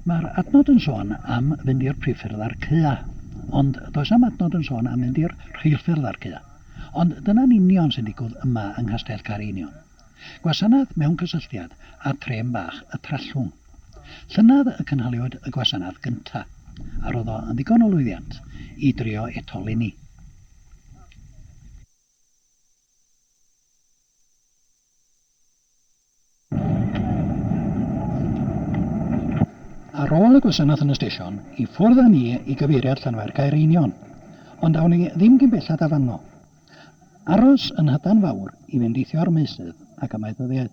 Mae'r adnod yn sôn am fynd i'r priffyrdd a'r cua, ond does am adnod yn sôn am fynd i'r rheilffyrdd a'r cua. Ond dyna'n union sy'n digwdd yma yng Nghastell Caereinion. Gwasanaeth mewn cysylltiad â Trem Bach y Trallwng. Llynedd y cynhaliwyd y gwasanaeth gynta', a roedd o yn ddigon o lwyddiant i drio eto 'leni. Ar ôl y gwasanaeth yn y stesion, i ffwrdd â ni i gyfeiriad Llanfaircaer Einion, ond awn ni ddim cyn belled â fanno. Aros yn Nhydan Fawr i fendithio'r meysydd ac amaethyddiaeth.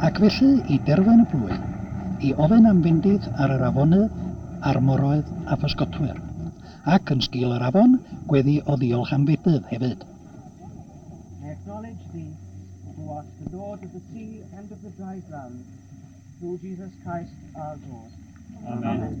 Ac felly i derfyn y plwy, i ofyn am fendith ar yr afonydd a'r moroedd a physgotwyr, ac yn sgil yr afon, gweddi o ddiolch am fedydd hefyd. I acknowledge thee, who art the Lord of the sea and of the dry ground, through Jesus Christ our Lord. Amen.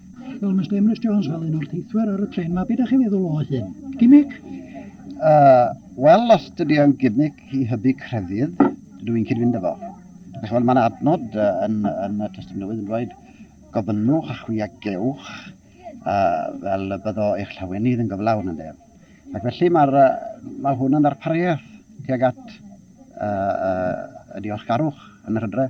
Wel, Mister Emrys Jones, fel un o'r teithwyr ar y tren ma, beth ydych chi'n feddwl o hyn? Gimmick? Uh, Wel, os dydy o'n gimmick i hybu crefydd, dydw i'n cyd-fynd efo. Chymod, mae'n adnod uh, yn, yn y Testament Newydd yn dweud, gofynnwch a chwi a gewch, uh, fel y byddo eich llawenydd yn gyflawn yn def. Ac felly mae'r, uh, mae hwn yn ddarpariaeth tuag at uh, uh, y diolchgarwch yn yr hydre.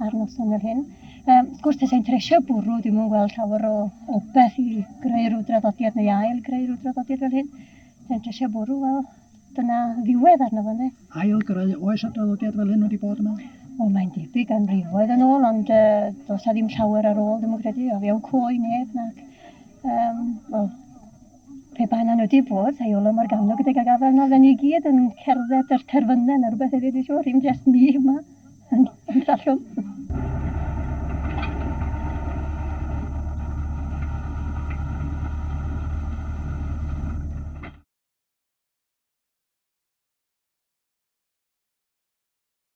ar noson fel hyn. Um, wrth gwrs, tasai'n tresio bwrw, ddim yn gweld llawer o, o beth i greu rhyw draddodiad neu ail greu rhyw draddodiad fel hyn. Tasai'n tresio bwrw, wel, dyna ddiwedd arno fo, ne? Ail greu, oes y draddodiad fel hyn wedi bod yma? Wel, mae'n debyg am rifoedd yn ôl, ond uh, dos a ddim llawer ar ôl, ddim yn credu, o fewn coe neb, nac. Um, well, Pe bai 'na nhw 'di bod, sa i olwg mor gamno gydag y gafael 'na, fydden ni i gyd yn cerdded yr terfynne ne' rwbeth hefyd dwi siŵr, ddim jest ni yma yn y Trallwm.